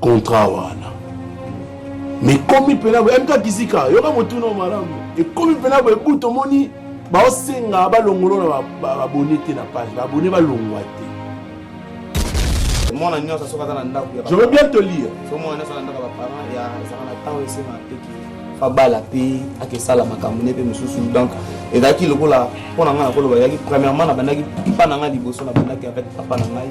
contrat wana mekomi mpena boye mta kizika yoka motuna o malamu ekomi mpena boye butu omoni baosenga balongolo na babone te na page babone balongwa te mwana nyonso soki aza na ndako je veux bien te lire so mwana nyonso na ndako ya baparent ya ezaka na ntango esenga teki abala mpe akesala makambo ne mpe mosusu donc ezalaki lokola mpo na ngai nakoloba ezalaki premièrement nabandaki papa na ngai liboso nabandaki avec papa na ngai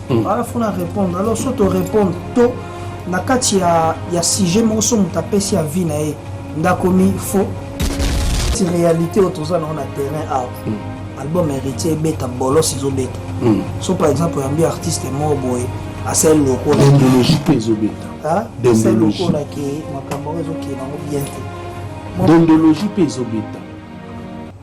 mm. ala fo na répondre alors so to répondre to na kati ya, ya sujet moko so moto apesi ya vie na ye ndakomi fo ti réalité oyo toza nango na terrain awa mm. album héritier ebeta bolos ezobeta mm. so par exemple oyambi artiste moko boye asali lokola dendologie mpe ezobeta ah, asali lokola ke makambo yango ezokende yango bien te dendologie mpe ezobeta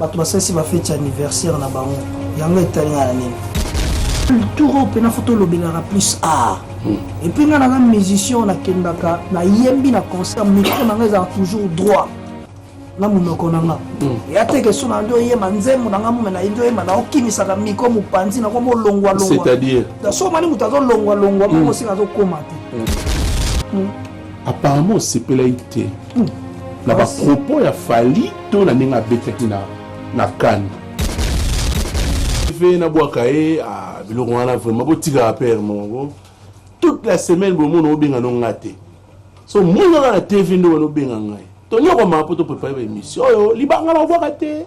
Bato basalisi ba feti ya anniversaire na bango, yango etali ngai na nini? Turo mpe na foto olobelaka plus art epuis ngai naza musicien nakendaka nayembi na concert micro na ngai ezalaka toujours droit na monoko na nga ya te keso na nde oyema nzembo na nga mume na yende oyema na okimisaka miko mopanzi nako molongwalongwa so omani moto azolongwalongwa moko osika azokoma te apparemment osepelaki te hmm. na bapropos ya fali to na ndenge abetaki na, na kani fe nabwaka ye ah, biloko wana vraiment botikaka pere moko toute la semaine bomona obenga no nga te so monaka na tv nde wana obenga ngai tonyokomaka mpo toprepare baémission oyo libanga na obwaka te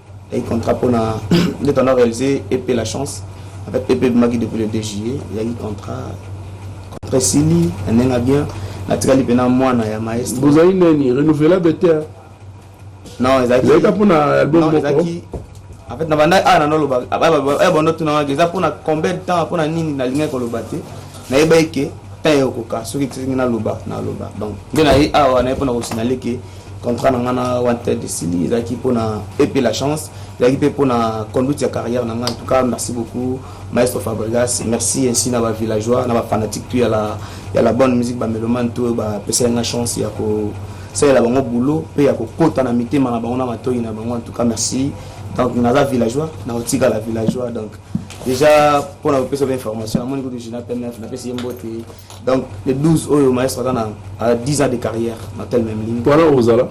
ezalaki contrat mpona nde tanda réalise ep la chance en fait ep ebimaki depuis le 2 juillet ezalaki contrat contrat esili na ndenge bien natikali mpena mwana ya maestro bozali nani renouvelable te non ezalaki ezalaki mpona album moko ezalaki en fait nabanda awa ah, nano oloba banda tunangaki eza mpona combien de temps mpona nini nalingaki koloba te nayebaki ke temps ekoka soki ekisengi naloba naloba donc nde naye awa naye mpona kosinale ke contrat na ngai na wanted esili ezalaki mpo na epe la chance ezalaki mpe mpo na conduite ya carrière na ngai en tout cas merci beaucoup maestro fabrigas merci ainsi na bavillageois na bafanatique tu ya la, ya la bonne musique bamelomane to oyo bapesaki ngai chance ya kosalela bango boulot mpe ya kokota na mitema na bango na matoi na bango en tout cas merci donc naza villageois nakotikala villageois donc déjà mpo na kopesa ba information namoni kutu gina pmf napesi ye mbote Donc le 12 oyo maestro aza na 10 ans de carrière na tel même ligne. Wana ozala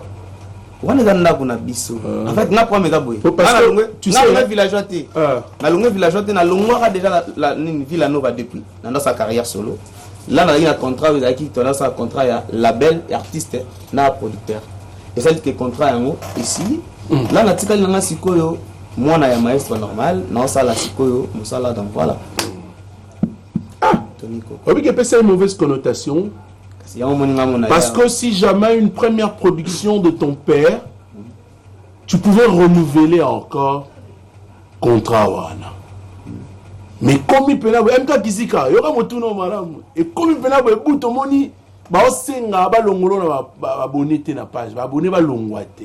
wana eza ndako na biso ah. en fait nga problème eza boye nalongwe villageois te ah. nalongwe villageois te nalongwaka déjà nini villa nova depuis na ndasa carrière solo là nazalaki na contrat oyo ezalaki tondasa contrat ya label ya artiste na producteur ezali ke contrat yango esili hmm. là natikali nanga sikoyo mwana ya maestro normal naosala sikoyo mosala donc voilà Ah, oyebi ke epesa ye mauvaise connotation Parce que si jamais une première production de ton père, tu pouvais renouveler encore contrat wana. Mais comme il peut là, MK Kizika, yoka motuno malamu. Et comme il peut là, bout au moni, ba osenga ba longolo na ba abonné te na page, ba abonné ba longwa te.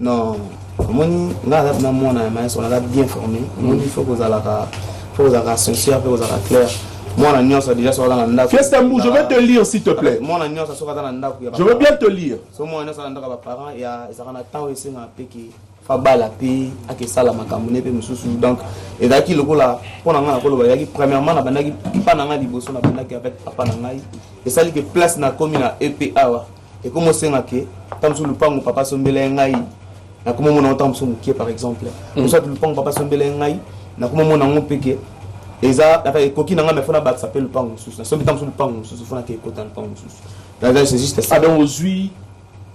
Non, omoni nga aza na mwana ya maestro naza bien formé. Omoni faut kozalaka faut kozalaka sincère pe kozalaka clair. Mwana nyonso deja soki aza na ndako. Fiesta Mbu, je vais te lire s'il te plaît. Mwana nyonso soki aza na ndako ya Je veux bien te lire. So mwana nyonso na ndako ya ba parents ya ezaka na temps esengaka pe ke fabala pe akesala makambo ne pe mosusu donc ezalaki lokola mpo na ngai nakoloba ezalaki premièrement nabandaki epa na ngai liboso nabandaki avec papa na ngai esali ke place nakomi na ep awa ekomo senga ke ntango mosusu lupango papa asombela ye ngai nakoma omona yango ntango mosusu mokie par exemple mosusu ati lupango papa asombela ye ngai nakoma omona yango mpe ke eza ata ekoki na ngai mefona bakisa mpe lupango mosusu nasombi ntango mosusu lupango mosusu fonaki ekota lupango mosusu c'est juste ça donc ozwi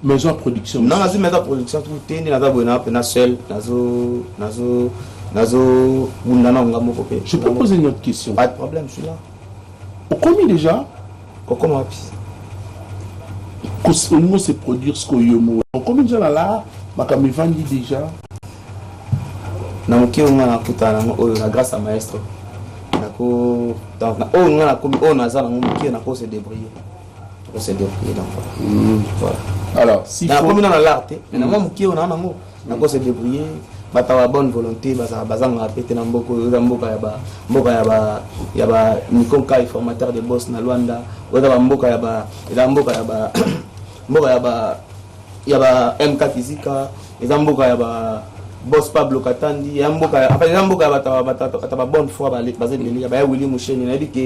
maison production non nazwi maison production tu te nde naza boye na mpena seul nazo nazo nazo bunda na onga moko mpe je peux poser une autre question pas de problème je suis là okomi deja kokoma wapi olingo se produire ce oyo mo okomi deja na lar makambo evandi deja na moke oyo ngai nakutana nango oyo na grâce ya maestro nako donc na oyo ngai nakomi oyo naza nango moke nako se débrouiller nako se débrouiller donc mm. voilà alors si nakomi na na lar te mais na mwa moke oyo naa nango nako se débrouiller bato ya bonne volonté bazala bazangaka mpe te na mboka oyo eza mboka ya ba mboka ya ba ya ba nikonkai formateur de boss na luanda oyo eza bamboka ya ba eza mboka ya ba mboka ya ba ya ba mk kizika eza mboka ya ba boss pablo katandi ya mboka ya apa eza mboka ya bato ya bato ya ba bonne foi baza ebele ya baya willi musheni nayebi ke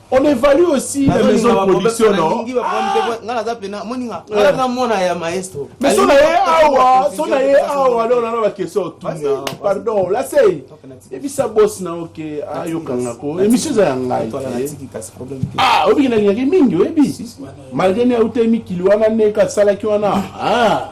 On évalue aussi la maison de production, non Nga naza pena, moninga, nga naza mwana ya maestro. Mais sona ye awa, sona ye awa, alors nana ba question tuna. Pardon, la sei. Ebisa boss na ok, ayo kanga ko. Emission za ngai. Ah, obi na ngaki mingi, obi. Malgré ne auto mi kilo wana ne ka sala ki wana. Ah.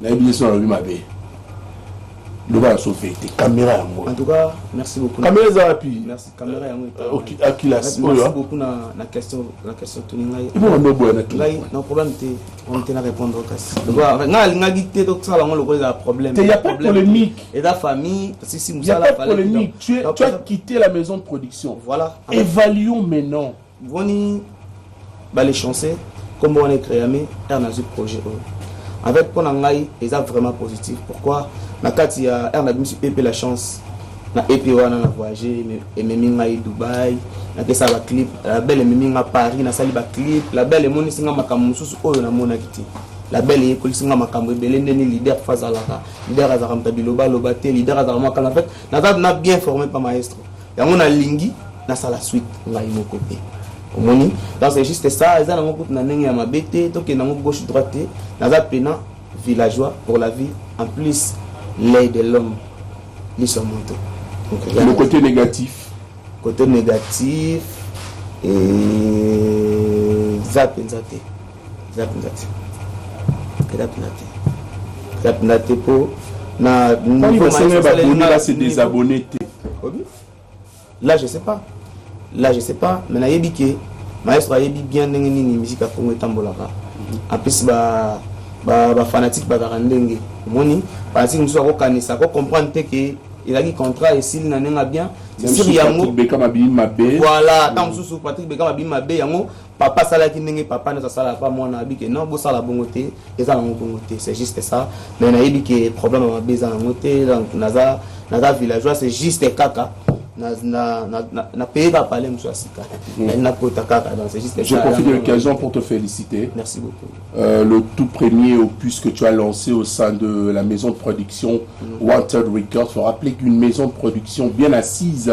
nayebi te soki nalobi mabe loba na sofe te kamera yango en tout cas merci beaucoup kamera eza wapi merci kamera yango akilas oyo merci beaucoup na na question na question tuni ngai ibo bando boya na tuni ngai na problème te on te na répondre kasi loba ngai alingaki te to sala yango lokola eza problème te y a pas de polémique et la famille si si musala fallait y a pas de polémique tu es tu as quitté la maison de production voilà évaluons maintenant Boni ba les chanceux kombo wana ecreame car nazwi projet oyo avec mpo na ngai eza vraiment positif pourquoi na kati ya r na bimisi ep la chance na ep wana na voyage ememi ngai dubai napesa baclip label ememi nga paris nasali baclip label emonisi nga makambo mosusu oyo namonaki te label eyekolisi nga makambo ebele ndeni leader fa azalaka leader azalaka moto ya bilobaloba te leader azalaka mwakala en fait naza na bien formé pa maestro yango nalingi nasala suite ngai moko te omoni donc c'est juste ça eza nango kutu na ndenge ya mabe te tokende yango gauche droite te naza pena villageois pour la vie en plus l'œil de l'homme liso moto le côté négatif côté négatif eza mpenza te eza mpenza te eza mpenza te eza mpenza te mpo na nivoesenge baboni base desabonne te là je sais pas là je sais pas mais nayebi ke maestro ayebi bien ndenge nini miziki ya kongo etambolaka mhm. apesi ba bafanatike ba bazalaka ndenge omoni fanatike mosusu akokanisa akokomprendre te ke ezalaki contrat esili na ndenge ya bien sisiri yango voilà ntango mosusu patrick beka mabimi mabe yango papa asalaki ndenge papa nyonso asalaka pa mwana abi ke non bosala bongo te eza nango bongo te c'est juste ça mais nayebi ke problème ya mabe eza nango te donc naza naza villageois c'est juste kaka napeye kaka pale mosusu ya sika nakota kaka donc c'est juste je profite de l'occasion pour te féliciter merci beaucoup euh, le tout premier opus que tu as lancé au sein de la maison de production mm. Wanted Records faut rappeler qu'une maison de production bien assise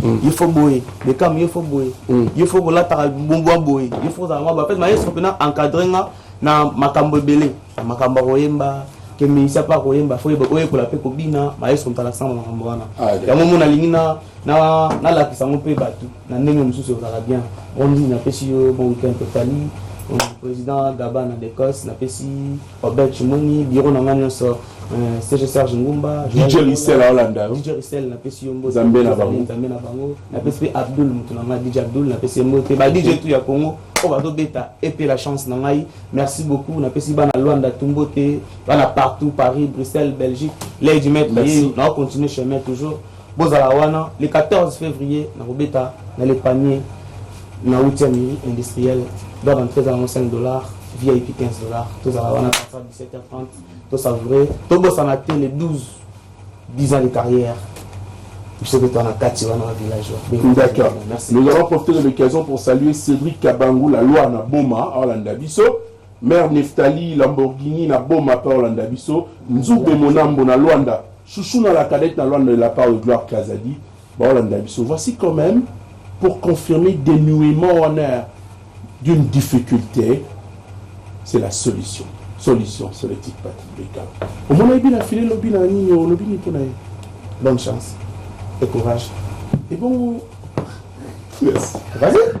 Mm. ye fo boye bekam ye fo boye mm. ye fo kolataka bwa boye ye fo kozala mwa bapete maestro mpena encadre nga na makambo ebele na makambo ya koyemba kemeisa mpe akoyemba fo oyekola mpe kobina maestro ntala sanga makambo wana ah, yango mo nalingi nalakisa yango mpe bato na ndenge mosusu ekozala bien ondi napesi yo bon weekend totali président gabana d'ecosse napesi Obed Chimoni, bureau na nga nyonso euh, CG Serge Ngumba, DJ Rissel aolanda yo, DJ Rissel napesi yo mbote, Nzambe na bango, Nzambe na bango, napesi pe Abdul mutu na nga DJ Abdul napesi ye mbote, ba DJ tout ya Congo oyo bazobeta epe la chance na ngai, merci beaucoup, napesi bana Luanda tout mbote, bana partout Paris, Bruxelles, Belgique, Lady Maître, na continuer chemin toujours Bozala wana le 14 fevrier na kobeta na le panier na 8e mini industriel doit rentrer ezala ngo 5 dollars VIP 15 dollars tozala wana partir 17h30 to savourer tobosana te le 12 10 ans de carrière biso mpe toa na kati wana ba village d'accord nous allons profiter de l'occasion pour saluer Cédric Kabangu la loi na Boma alanda biso Mère Nephtalie Lamborghini na boma pe olanda biso Nzube Monambo na Luanda Chouchouna la cadette na Luanda de la part de Gloire Kazadi ba olanda biso voici quand meme pour confirmer denuement wana ya d'une difficulte c'est la solution solution c'est le titre Patrick Beka omona ebi na file lobi na nini olobi nini mpona ye bonne chance et courage et bon merci vas-y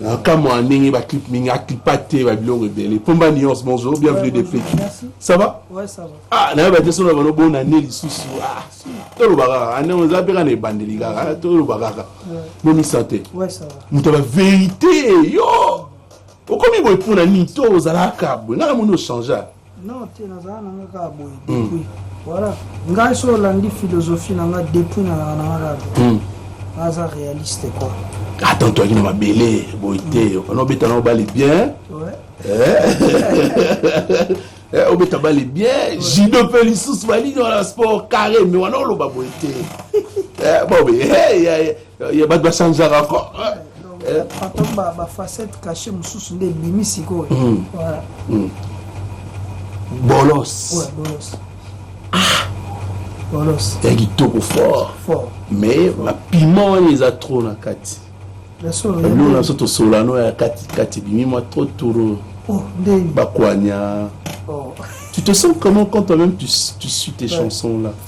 Na kamwa ndenge ba clip mingi a clipa te ba biloko ebele. Pomba nuance bonjour, bienvenue de Pékin. Ça va? Ouais, ça va. Ah, na ba tesono ba no bona ne lisusu. Ah, tolo bakaka. Ane on za peka na ebandeli kaka, tolo bakaka. Mo mi santé. Ouais, ça va. Muta ba vérité yo. Okomi boye pona nini to ozalaka boye. Ngana mono changer. Non, te nazala na nga kaka boye hmm. depuis. Voilà. Ngai so olandi philosophie na nga depuis na na nga kaka. Hmm. Naza réaliste quoi. Attends, ah, toi qui na mabele boye te. Hmm. Ono beta na obali bien. Ouais. Eh. Eh, obeta bali bien jido mpe lisusu balingi wana sport carré me wana oloba boye te eh, bobe ya bato basanzaka ko papa bafacette cache mosusu nde ebimi sikoyo hmm. hmm. bolos ah! bolos ya kitoko fort mais bapima wana eza trop na kati bino na biso tosolano ya katikati ebimi mwa trop toro oh, bakwanya oh. tu te sens comment quand toi-même tu, tu suis tes chansons là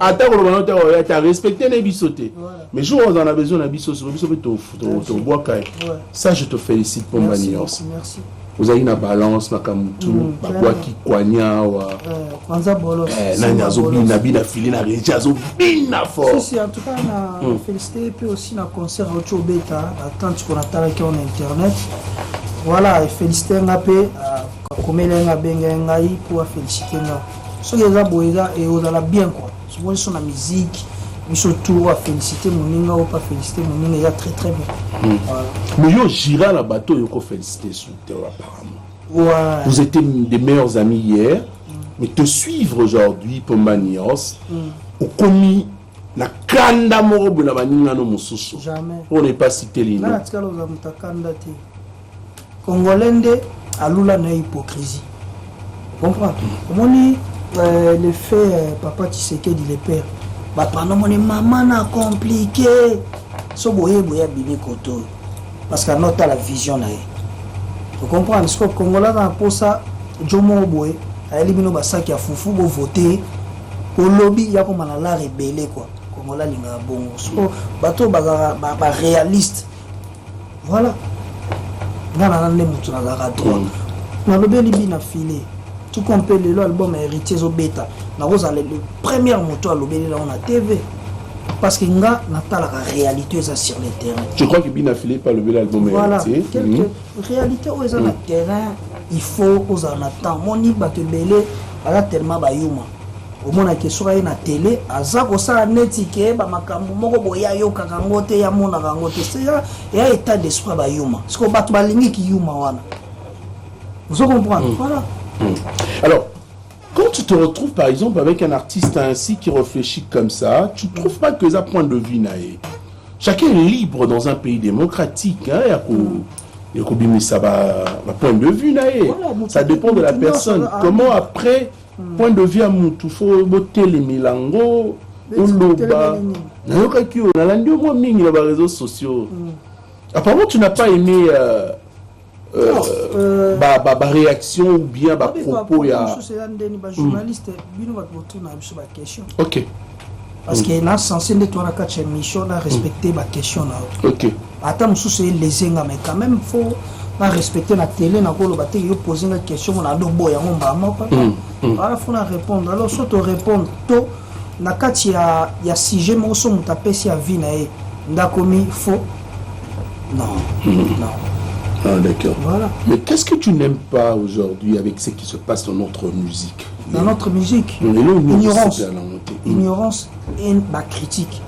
ata koloba nao ntango ya te arespecte nde biso te mais jour oza na besoin na biso siko biso mpe tobwaka ye ça je te félicite mpo mba nyonso ozalaki na balance makambo tu mm, babwaki kwani awa eh, eh, nani azobina bina fili na regi azobina fortfélicité mpe mm. aussi na concert auti obeta na tante ko natalaki on internet voilà efélicité nga mpe akomeli ah, nga abengaki ngai mpo afélicité nga soki eza boye eza ekozala eh, bien quoi soki biso na musique biso tour afélicité moninga oyo pa félicité moninga eza très très bien hmm. mais yo gira na bato oyo okofélicité sur te apparemment ouais. vous étiez des meilleurs amis hier mm. mais te suivre aujourd'hui po manios mm. okomi na kanda moko boye na baningano mosusu on n'est pas cité lino Congolais nde alula na hypocrisie. Comprendre? Omoni euh, le fait euh, papa Tshisekedi le père bato wana omoni mama na compliqué so boye boye abimi kote oyo parce que anotala vision na ye ocomprendre siko kongola aza na mposa jo moko boye ayeli bino basaki ya fufu bovote olobi yakoma na lare ebele kua kongola alingaka bongo siko bato oyo bazalaka barealiste ba Voilà. Nga na nande mutu na zaka droit. Mm. Na lobeli bi na filet. Tout comme pe lelo album ya héritier zo beta. Na rosa le premier moto a lobeli na on a TV. Parce que nga na talaka réalité eza sur le terrain. Tu crois que bina filet pas lobeli album ya voilà. héritier? Voilà. Quelque mm. réalité oyo eza mm. na terrain. Il faut oza na temps. Moni bato ebele baza tellement bayuma. Omona ke soki aye na tele aza kosala neti ke ba makambo moko boye ayokaka yango te ye amonaka yango te se ya, ya etat d'esprit ya bayuma sikoyo bato balingi kiyuma wana ozo comprendre mm. voilà mm. alors quand tu te retrouves par exemple avec un artiste ainsi qui réfléchit comme ça tu trouves pas que eza point de vue na ye chacun est libre dans un pays démocratique hein, ya ko mm. ekobimisa ba, ba point de vue na ye voilà, ça dépend de la personne comment après point de vue ya mutu fo botelemela yango oloba nayokaki oyo nalandi yo mwa mingi na bareseau sociaux mm. apparemment tu n'as pas aimé euh, euh, euh, ba, ba, ba réaction ou bien ba propos ya mm. ok parce que na sense nde toa na kati ya émission na respecter ba question na yo ok ata mosusu elese nga mais quand même faut na respecter na télé nakoloba te yo pose nga question mona adobo yango mbala moko mm, mm. wana faut na répondre alors so to répondre to na kati ya, ya sujet moko so moto apesi avis na ye ndakomi faux non mm. non Ah, d'accord. Voilà. Mais qu'est-ce que tu n'aimes pas aujourd'hui avec ce qui se passe dans notre musique na notre musique ignorance ignorance et ba critique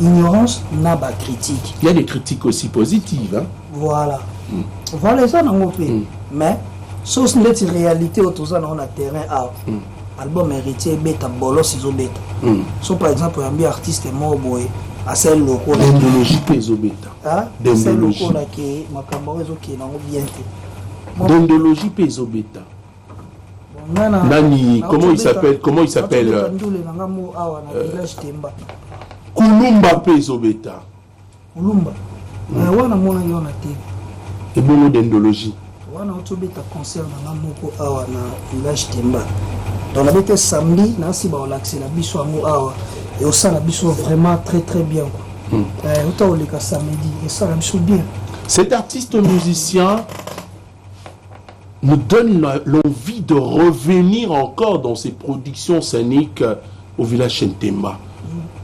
ignorance na ba critique il y a des critiques aussi positives hein? voilà mm. voilà eza nango mpe mm. mais sosi ndeti réalité oyo toza nango na terrain awa mm. album héritier ebeta bolos ezobeta mm. so par exemple oyambi artiste moko boye asali lokola dendologie mpe ezobeta asali lokola ke makambo yango ezokende yango bien te dendologie mpe ezobeta nani comment il s'appelle comment il s'appelle euh, kulumba mpe ezobeta kulumba hmm. eh, wana mona yo na te ebongo dendologie wana otobeta concert nanga moko awa na village temba donc nabete samedi nasi baolakisela biso yango awa eosala biso vraiment très très bien quoi hmm. eh, ota oleka samedi esala biso bien cet artiste musicien me donne l'envie de revenir encore dans ses productions scéniques euh, au village Chentemba.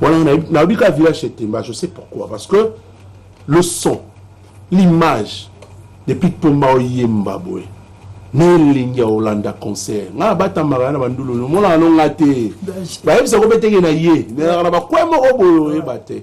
Voilà, on a eu qu'à village Chentemba, je sais pourquoi. Parce que le son, l'image, depuis que Poma Oyemba, boy, nelingi ya olanda concert nga abatamaka na bandulu nomonaka nonga te bayebisa kobetenge na ye nelaka na bakwe moko boye oyeba te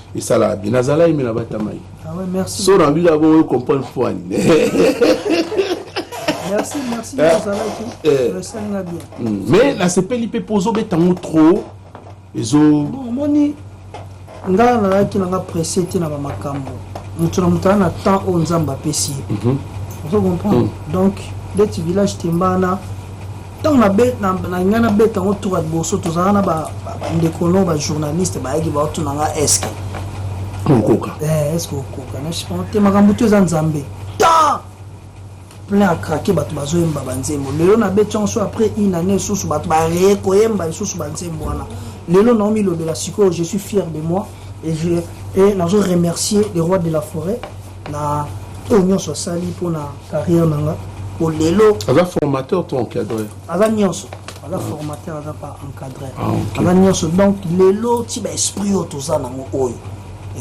esalaka bien nazala yeme na batama ye ah so na bika bongo yo comprendre mpo ani mais nasepeli mpe mpo ozobeta yango trop ezomoni ngai nalaki nanga presse te na bamakambo moto na moto aa na temps oyo nzambe apesi ye mhm. ozo comprendre mhm. donc ndeti village tembana ntango na ngai nabeta yango tour ya liboso tozalaka na bandeko no bajournaliste bayaki baotuna nga eske okoka eh, eske okoka nashipana te makambo to eza nzambe ta plein ya krake bato bazoyemba banzembo lelo nabeti yango so après une année lisusu bato bareye koyemba lisusu banzembo wana lelo naomilobela sikoyo je suis fier de moi et, je, et nazo remercier le roi de la forêt na oyo nyonso asali mpo na carrière na nga po lelo aza formateur to encadreur aza nyonso aza formateur aza pa encadreur Ah, ok. aza nyonso donc lelo ti ba esprit oyo toza nango oyo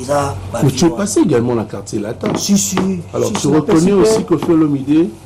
eza ba mais tu es viewers. passé également na quartier latin si si alors si, tu si, na reconnais pesi pe- aussi que Fiolomide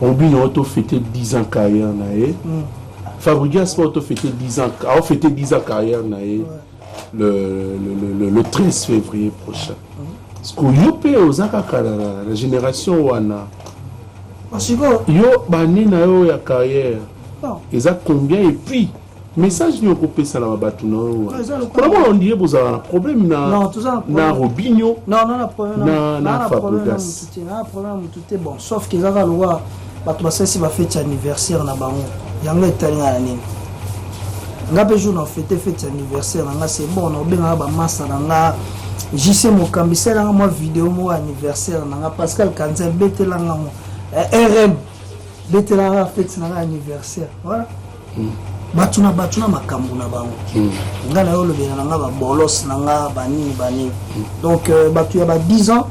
Robin awa to fete 10 ans carrière na ye. Mm. Fabrigas awa to fete 10 ans, awa fete 10 ans carrière na ye. Ouais. Le, le, le, le, le 13 février prochain. Mm. Parce que yo pe oza kaka na, na, na génération wana. Yo bani na yo ya carrière. Non. Eza combien et puis message nini okopesa na bato na yo namona ondire bozala na problème na robinio na fabrigas sauf ke kaka lokola bato basalisi bafeti ya anniversaire na bango yango etali ngai na nini nga mpe jour na fete feti ya anniversaire na nga se bon naobengaka bamasa na nga jc mokambi salelanga mwa video moko anniversaire na nga pascal kanza ebetelanga ngo eh, rm betelanga feti na nga anniversaire voilà bato na bato na makambo na bango hmm. nga na yo olobela na nga babolos na nga banini banini hmm. donc euh, bato ya ba 10 ans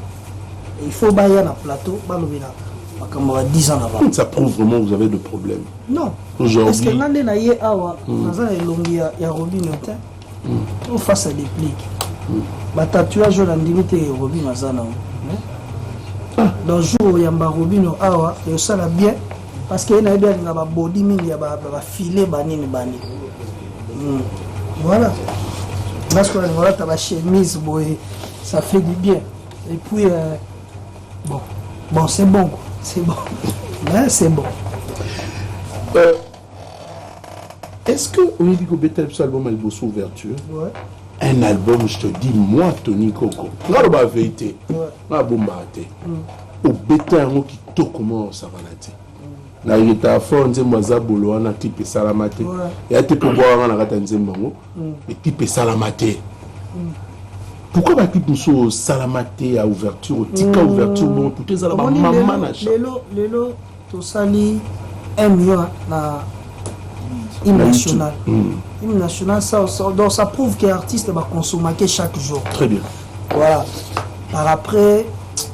il faut baya na plateau balobela makambo ya 10 ans na bango ça prouve vraiment vous avez de problème non parce que nga nde na ye awa hmm. naza na elongi ya robino te Mm. Face à déplic. Mm. Ba tatouage oyo nandimi te Robin aza na ah. dans jour oyamba Robino awa ekosala bien parce que ye nayebi alinga babodi mingi ya bafile banini bani mm. voilà parce que alinga olata bachemise boye ça fait du bien et puis euh, bon bon c'est bon c'est bon c'est bon euh, Est ce que oyebi kobetela biso album ya liboso ouverture ouais. un album je te dis moi tony koko nga loba verité ouais. nga abombaka te mm. obeta yango kitoko mwa osakana te mm. na yeta fort nzembo aza bolo wana clip esalama te ouais. ya te mpe bwaka nga na kati ya nzembo yango mm. eclip esalama te mm. pourquoi baclip mosusu osalama te ya ouverture otika mm. ouverture bongo tutu ezala bamama na cha Tosali M yo na hymne national. Hmm. Hymne national, ça, ça, donc ça prouve que artiste ba consommateur chaque jour. Très bien. Voilà. Par après,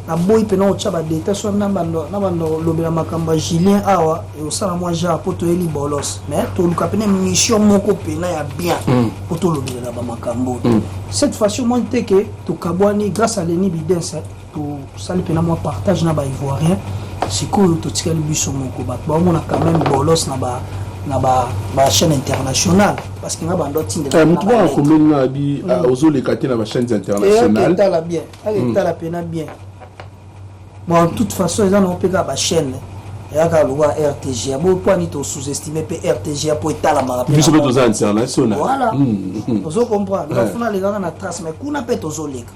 na boyi pena otya badeta so na bandolobela makambo ya julien awa osala mwa genre mpo toyeli bolos mais toluka pena mission moko pena ya bien hmm. mpo tolobelela bamakambo hmm. cette façon moi te ke tokabwani grâce à leni bidense Tosali mpe na mwa partage na ba Ivoiriens. Sikoyo totikali biso moko, bato baomona quand même bolos na ba na ba ba chaîne internationale parce que nga bando tinde eh, mutu ba ko meli na bi mm. ah, ozo le katé na ba chaînes eh, internationales et tala bien et mm. tala pena bien bon en toute façon ils en ont pega ba chaîne yaka lwa rtg bo po ni to sous-estimer pe rtg po etala mara pe biso pe toza international voilà mm. ozo comprendre la funa le ganga na trace mais kuna pe tozo leka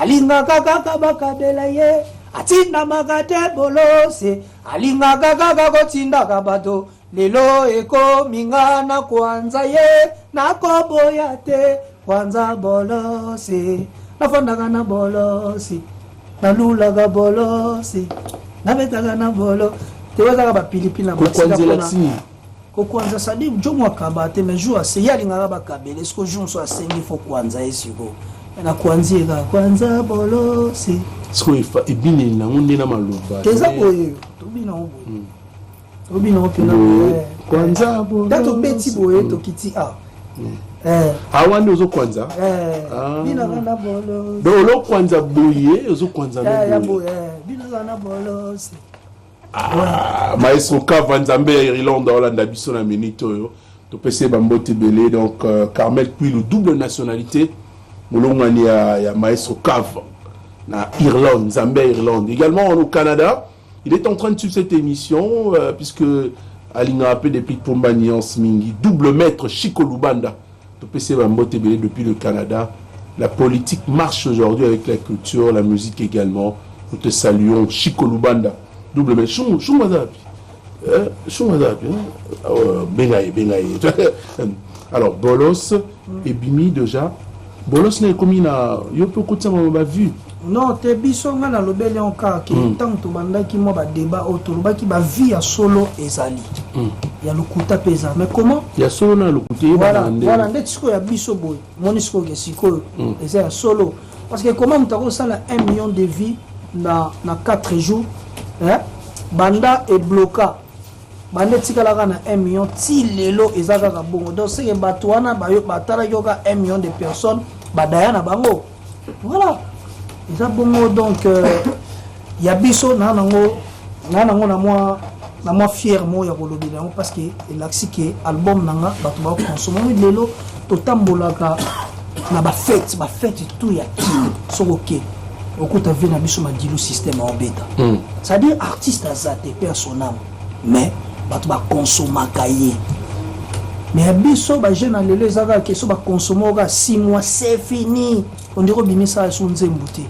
alingaka kaka bakabela ye atindamaka te bolose alingaka kaka kotindaka bato lelo ekomi nga na kwanza ye nakoboya te kwanza bolose nafandaka na bolosi nalulaka bolosi nabetaka na bolo tewezaka bapilipili na kokwanza sadi njomo akaba te mais jour ase ye alingaka bakabela esiko jour mosusu asengi fo kwanza ye siko na kwanzi ye kaka kwanza bolosi siko ebineli nango nde na maloba eza boye tobina ngo boye hmm. tobina ngo mpena eh. kwanza bolosi da tobeti boye hmm. tokiti a ah. hmm. eh. awa ah, nde ozokwanza eh. ah. donc olokwanza boye ozokwanza na boye Ah, maestro Kava Nzambe ya Irlande Olanda biso na minute oyo topesi ba mbote ebele donc euh, Carmel Kwilu double nationalité molongani ya, ya maestro Kava na Irlande Nzambe ya Irlande également au Canada il est en train de suivre cette émission euh, puisque alingaka mpe depuis Pomba Nuance mingi double maître Chico Lubanda Topesi ye ba mbote ebele depuis le Canada. La politique marche aujourd'hui avec la culture, la musique egalement. Nous te saluons. Chico Lubanda, double mais Shungu, Shungu aza wapi? Euh, Shungu aza wapi? hein? Euh, benga ye, benga ye. Alors, Bolos, ebimi déjà. Bolos na ekomi na, yo pe okotisama na ba vues. non te biso ngai nalobeli on kaka ke mm. ntango tobandaki mwa badeba oyo tolobaki bavie ya solo ezali mm. ya lokuta mpe eza mais comment ya solo na lokuta voilà ndeti sikoyo ya biso boye moni sikoyo ke sikoyo mm. eza ya solo parce que comment moto akosala 1 million de vie na, na 4 jours eh? banda ebloka banda etikalaka na 1 million ti lelo eza kaka bongo donc seke bato wana batalaki oka 1 million de personnes badaya na bango voilà eza bongo donc euh, ya biso na nango na nango na mwa na mwa fiere moko ya kolobela yango parce que elakisi ke album na nga bato bakokonsomami lelo totambolaka na bafete bafete tout ya kino soki oke okuta vie na biso madilu systeme aobeta hmm. c'est-à-dire artiste aza te mpe asonama Mais bato ba consomaka ye. Mais ya biso ba jeunes ya lelo eza kaka ke soki ba consommer yo kaka six mois c'est fini. On dirait obimisa lisusu nzembo te.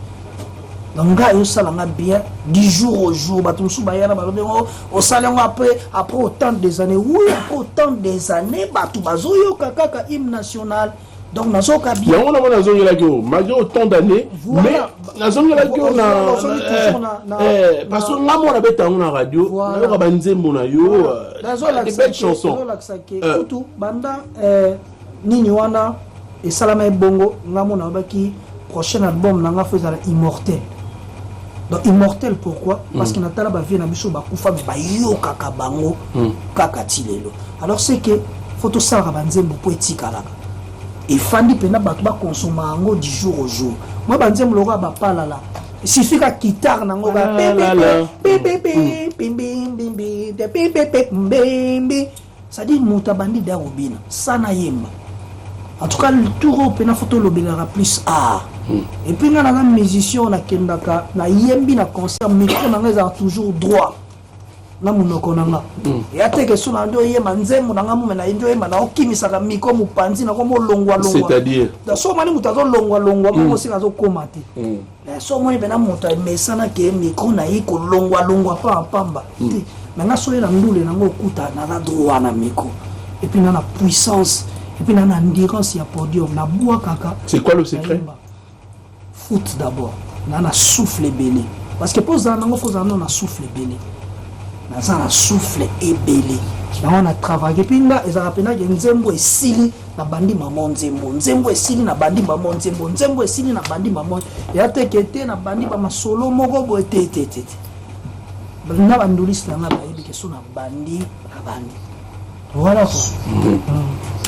Donc nga yo sala nga bien du jour au jour bato mosusu baya na balobi yango osala yango après après autant des années oui après autant des années bato bazoyoka kaka hymne national donc nazoka bien yango na mona nazongelaki yo malgré autant d'année mais nazongelaki yo na eh, eh, parce que nga mona beta yango na radio nayoka banzembo na yo euh, des belles chansons euh. kutu banda euh, nini wana esalama ebongo nga mona abaki Prochaine album na nga faut ezala immortel. Donc immortel pourquoi mm. Parce que na tala ba vie na biso ba kufa mais ba yokaka bango mm. kaka ti lelo. Alors c'est que faut to sala ba nzembo po etikalaka. efandi mpena bato bakonsoma yango du jour au jour mwa banzembo lokola bapalala suffit ka kitare nango ka Ça dit mutu abandi da kobina sana yemba en tout cas tour oyo mpena fo tolobelaka plus art hmm. et puis nga naza musicien oyo nakendaka nayembi na concert micro na nga ezalaka toujours droit na monoko na nga hmm. ya te kesu na nde oyemba nzembo na nga mume na ye nde oyemba naokimisaka miko mopanzi nakomolongwalongwa so omani moto azolongwalongwa moko hmm. osika azokoma te Eh, so omoni mpena moto amesana ke mikro na ye kolongwalongwa mpamba mpamba hmm. te me nga soki na ndule nango okuta naza droit na mikro epuis na na puissance epuis na na endurance ya podium nabwakaka c'est quoi le secret foot d'abord na na souffle ebele parce que mpo ozala nango fo ozala nano na souffle ebele naza na souffle ebele yango na travaille epuis nga ezalaka mpenake nzembo esili nabandi mama nzembo nzembo esili nabandi mama nzembo nzembo esili nabandi mama ya teke te nabandi bamasolo moko boye te te te te na bandulisi na ngai bayebi ke so nabandi nabandi voilà mm.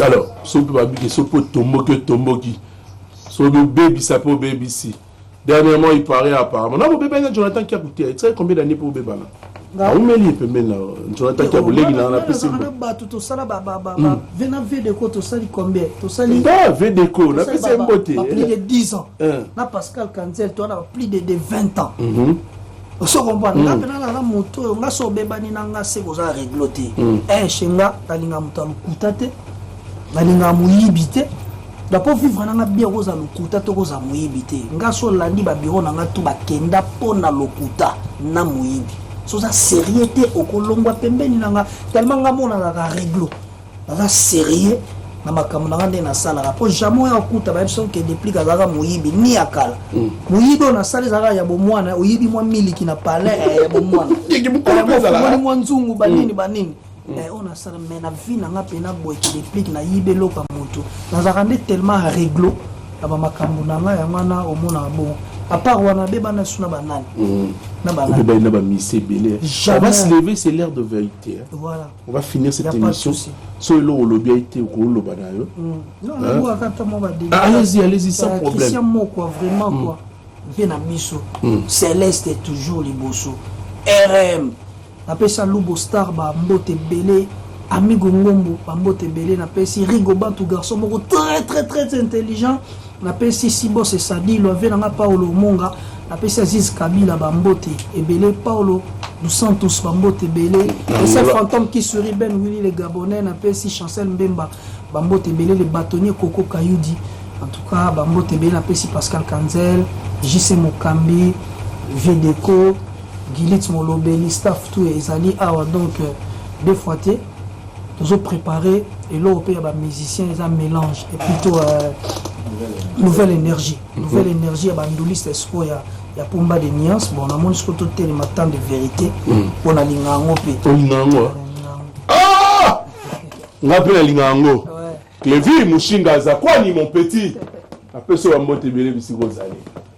alors soki babiki soki otomboki otomboki soki obebisa mpe obebisi Dernièrement il paraît apparemment na bobebani na Jonathan Kiaku te etikali combien d'années mpo bobebana awumeli ye pembeni na Jonathan Kiaku leki na na pesi bato tosala vena vedeco tosali combien tosali ba vedeco na pesi mbote plus de 10 ans na Pascal Kanzel toana plus de 20 ans oso comprendre nga mpe nalala moto oyo nga so obebani na nga se koza reglo te eshe nga nalinga moto ya lokuta te nalinga moyibi te donc mpo vivre na nga bien okozala lokuta to okozala moyibi te nga so olandi babiro na nga tu bakenda mpo na lokuta na moyibi soza sérieux te okolongwa pembeni na nga tellement nga monanaka reglo naza serieux na makambo na nga nde nasalaka mpo jamai oyo akuta bayebi soki ke deplique azalaka moyibi ni ya kala mm. moyibi oyo nasali ezalaka ya bomwana oyibi mwa miliki na palin eh, ya bomwanaomoni eh, mwa nzungu banini mm. banini mm. eh, oyo nasala mai na vie na nga mpe na boye ke deplique nayibi eloko ya motu nazalaka nde tellement reglo na bamakambo na nga yango wana omonaka bongo apart wana beba na suna banani na banani na bamise ebele jamais se lever c'est l'air de vérité voilà On va finir cette émission. So eloko olobi ayi te okoloba na yo. Ah, allez-y, allez-y sans euh, problème. Christian Mokwa vraiment mm. quoi. Mpe na biso. Mm. Céleste est toujours liboso. RM. Napesa Lubo Star ba mbote ebele. Amigo Ngombo ba mbote ebele napesi Rigo Bantu garçon moko très très très intelligent. Napesi Sibose Sadilo, ave na nga Paulo Omonga, napesi Aziz Kabila ba mbote ebele, Paulo dos Santos ba mbote ebele, Ese Fantome qui sourit, Ben Willy le Gabonais, napesi Chancel Mbemba ba mbote ebele, le bâtonnier Koko Kayudi, en tout cas ba mbote ebele, napesi Pascal Kanzel, JC Mokambi, Vedeco, Gilitz Molobeli, staff tout ezali awa donc deux fois te. tozo preparer eloko pe ya ba musiciens eza melange et plutôt euh, nouvelle énergie mhm. nouvelle énergie ya ba nduliste siko ya ya pomba de nuance bon namoni siko totelema temps de vérité mhm. mpo na linga yango mpe olinga yango ah! nga mpe nalinga yango clevi mushinga aza kwani mon petit apesi yo bambote ebele bisika ozali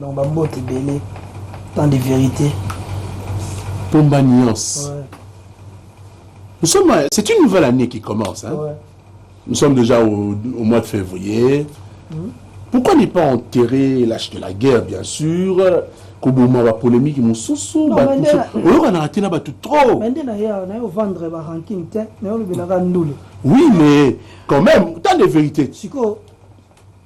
Donc ba mbote ebele tant de vérité. Pomba nuance. Ouais. Nous sommes, c'est une nouvelle année qui commence. Hein? Ouais. Nous sommes déjà au, au mois de février. Mmh. Pourquoi n'est pas enterré l'âge de la guerre, bien sûr koboma bapolémike mosusu oyokanaka te na bato trop bande na ye awa naye ovendre baranking te naye olobelaka ndule oui mais quand même tant de vérité sikoyo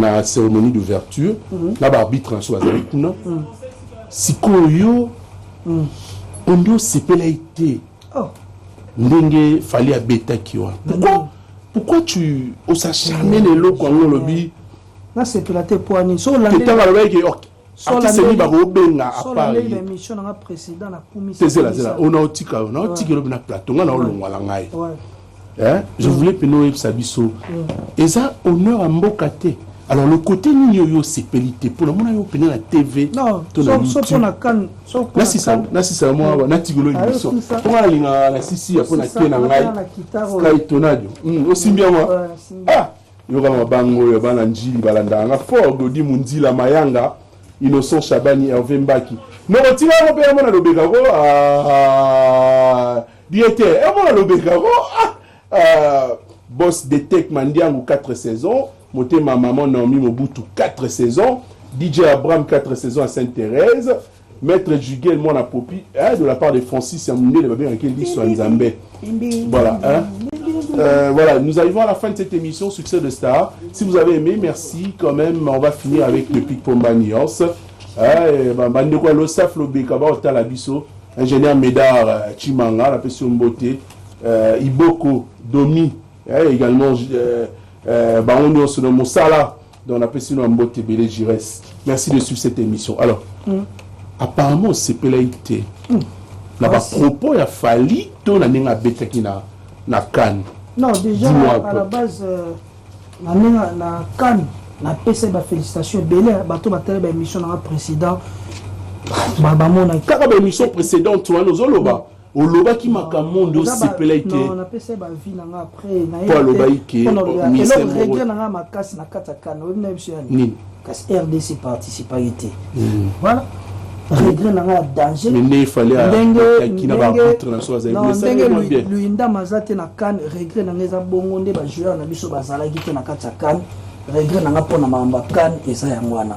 na ceremonie d'ouverture mm -hmm. na ba arbitre na biso bazali kuna mm -hmm. sikoyo yo mm. ondi osepelaki te oh. ndenge fali abetaki wana mm. pourquoi mm. pourquoi tu osacharne na eloko yango olobi nasepela te poani so olandetanga alobaki artiste nini bakobenga apartezela ona otika yo naotika elobi na plateau ngai naolongwa na ngai eh, je voulais mpena oyebisa biso mm. eza honneur ya mboka te alors le côté nini oyo osepeli te mpo namona yo mpena na tv nasisa mwa natikolo émission mpo nga nalingaka na sisi ya mpo na te na ngai sky tonadio osimbi yango ah Yoka mabango oyo ya bana njili balandaka nga fort Dodi Munzila Mayanga Innocent Shabani Herve Mbaki noko tika yango mpe yango na lobeka ko ah, bien te yango na lobeka ko ah, ah, boss Detect Mandiangu 4 saisons motema maman Naomi Mobutu 4 saisons DJ Abraham 4 saisons à Sainte-Thérèse Maitre Jugel mwana popi eh, de la part de Francis ya mundele babengaki ye liso ya Nzambe. Voilà hein. Euh, voilà, nous arrivons à la fin de cette émission Succès de Star. Si vous avez aimé, merci quand même. On va finir avec le pic Pomba Nuance. Eh, ba- bandeko ya losaf lobeka baotala biso ingénieur médard euh, chimanga napesi yo mbote euh, iboko domi eh, également euh, euh, bango nyonso na mosala Donc na pesi no mbote ebele Jires. Merci de suivre cette émission. Alors, mm. apparemment osepelaki te mm. na ba propos ya Fally to na ndenge abetaki na na Cannes. Non, déjà à la base euh, na ndenge na Cannes napesaki ba félicitations ebele bato batali ba émission na nga président bamonaki kaka ba émission précédente wana ozoloba Olobaki makambo moko nde osepelaki te. Non, napesa ye ba vie na nga après na ye. Po alobaki ke ministre moko. Regret na nga makasi na kati ya kanda. Oyebi na biso ya nini? Kasi RDC participaki te. Voilà. regret na ngai ya danger ndenge luyindama aza te na kane regret na ngai eza bongo nde bajoueur na biso bazalaki te na kati ya kane regret na ngai mpo na makambo ya kane eza yango wana